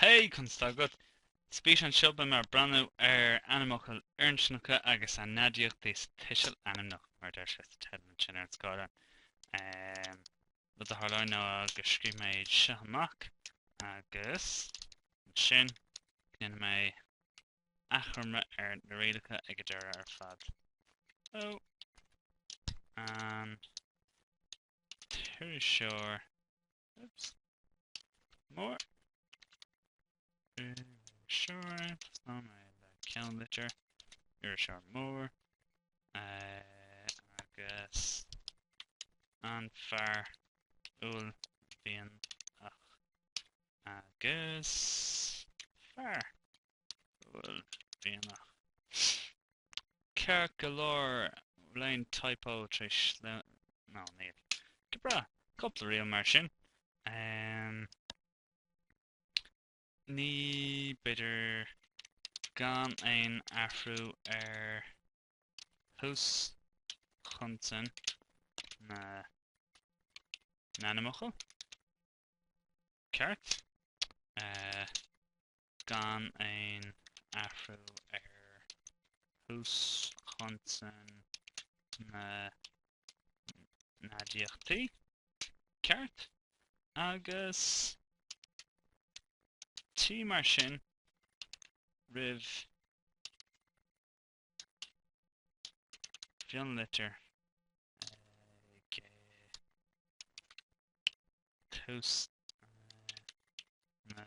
Hey! Conas atá agat? Sa bhfíseán seo, beidh mé ag breathnú ar ainmfhocail fhirinscneacha agus a n-aidiachtaí sa tuiseal ainmneach, mar a deir sé sa teideal ansin ar an scáileán. An rud a tharlóidh ná go scríobhfaidh mé iad seo amach agus ansin go ndéanfaidh mé achoimre ar na rialacha ag an deireadh ar fad. Ó an t-iriseoir Oops. Mór. Sure. Tosnóidh mé le ceannlitir. Iriseoir mór. Uh, agus an fear uaillmhianach agus fear. uaillmhianach ceart go leor bhfuil aon typo tar éis nó níl go breá cúpla riail mar sin ní b'fhéidir gan aon athrú ar thús chonsan na n-ainmfhocal. ceart, gan aon athrú ar thús chonsan na n-aidiachtaí, ceart, agus T mar sin roimh mhionlitir ag tús na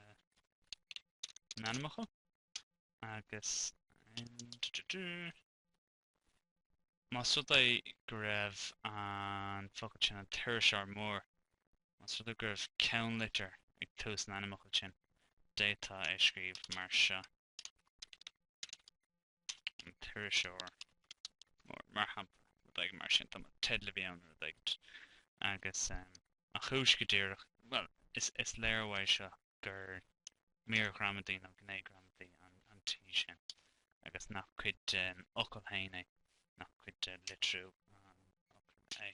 n-ainmfhocal agus más rud é go raibh an focal sin an t-iriseoir mór, más rud é go raibh ceannlitir ag tús an ainmfhocail sin, d'fhéadfá é a scríobh mar seo. an t-iriseoir mar shampla nó rudaí mar sin tá teideal a bhí ann nó rudaí agus an chúis go díreach bhuel is léiriú é seo gur mír ghramadaí nó gné ghramadaí an T sin agus nach cuid den fhocal féin é nach cuid de litriú an fhocail é.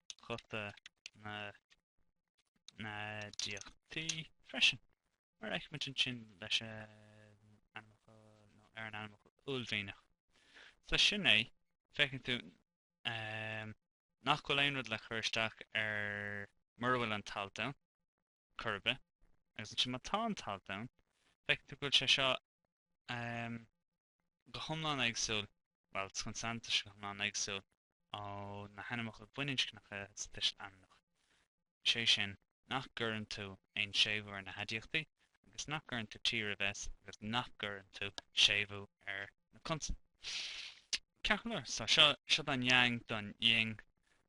ghuta na n-aidiachtaí freisin, mar a fheicimid ansin leis an ainmfhocal uaillmhianach. So, sin é, feiceann tú nach bhfuil aon rud le cur isteach air mura bhfuil an t-alt ann. chor ar bith. Agus ansin má tá an t-alt ann, feictear go bhfuil sé seo go hiomlán éagsúil, bhuel, consan tá sé go hiomlán éagsúil ó na hainmfhocail bhaininscneacha sa tuiseal ainmneach. Sé sin, nach gcuireann tú aon séimhiú ar na haidiachtaí, agus nach gcuireann tú t roimh s agus nach gcuireann tú séimhiú ar na consain. Ceart go leor, so seo an yang don ying.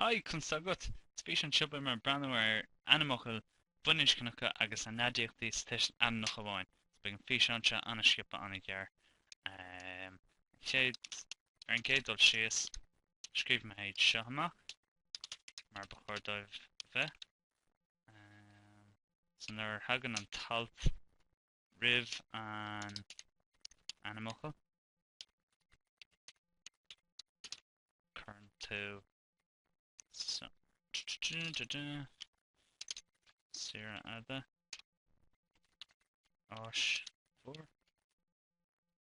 Haigh, conas tá agat? Sa bhfíseán seo beidh mé ag breathnú ar ainmfhocail bhaininscneacha agus a n-aidiachtaí sa tuiseal ainmneach amháin, so beidh an físeán seo an-sciobtha an-ghearr. Ar an gcéad dul síos, scríobh mé iad seo amach mar ba chóir dóibh a bheith, so nuair a thagann an t-alt, roimh an ainmfhocal, cuireann tú saoire fhada, áis mhór.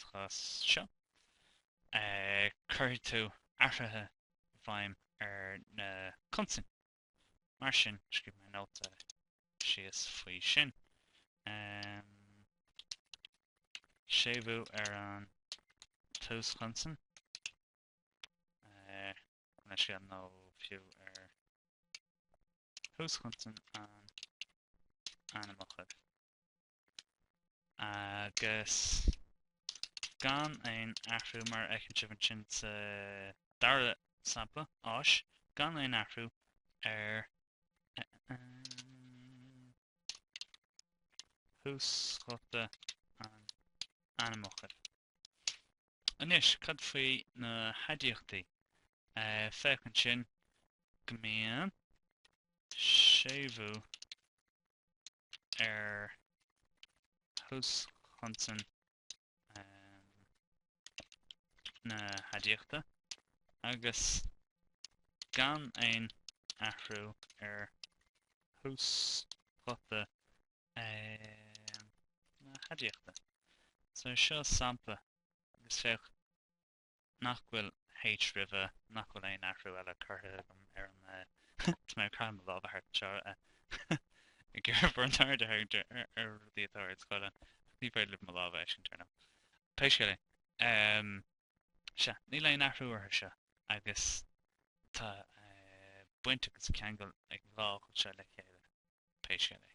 Sa chás seo, cuirfidh tú athruithe i bhfeidhm ar na consain. Mar sin, scríobh mé nóta síos faoi sin. Séimhiú ar an túschonsan, nó fiú ar thúschonsan an ainmfhocail. Agus gan aon athrú, mar a fheiceann sibh ansin sa dara sampla, áis, gan aon athrú ar thúsghuta an ainmfhocail. Anois, cad faoi na haidiachtaí? Féach ansin go mbíonn séimhiú ar thúschonsan na haidiachta agus gan aon athrú ar thúsghuta na haidiachta. So seo sampla agus féach Nach bhfuil H roimhe, nach bhfuil aon athrú eile curtha agam ar an, tá mé ag caitheamh mo láimhe thart anseo ag iarraidh bhur n-aird a tharraingt ar rudaí atá ar an scáileán ach ní féidir libh mo lámh a fheiscint ar ndóigh. Pé scéal é, sea, níl aon athrú orthu seo agus tá baint agus ceangal ag an dhá fhocal seo le chéile, pé scéal é.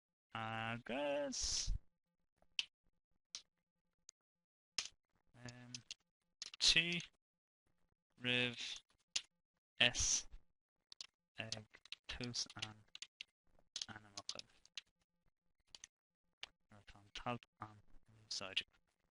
Agus. T roimh S ag tús an ainmfhocail nuair atá an t-alt an in úsáid.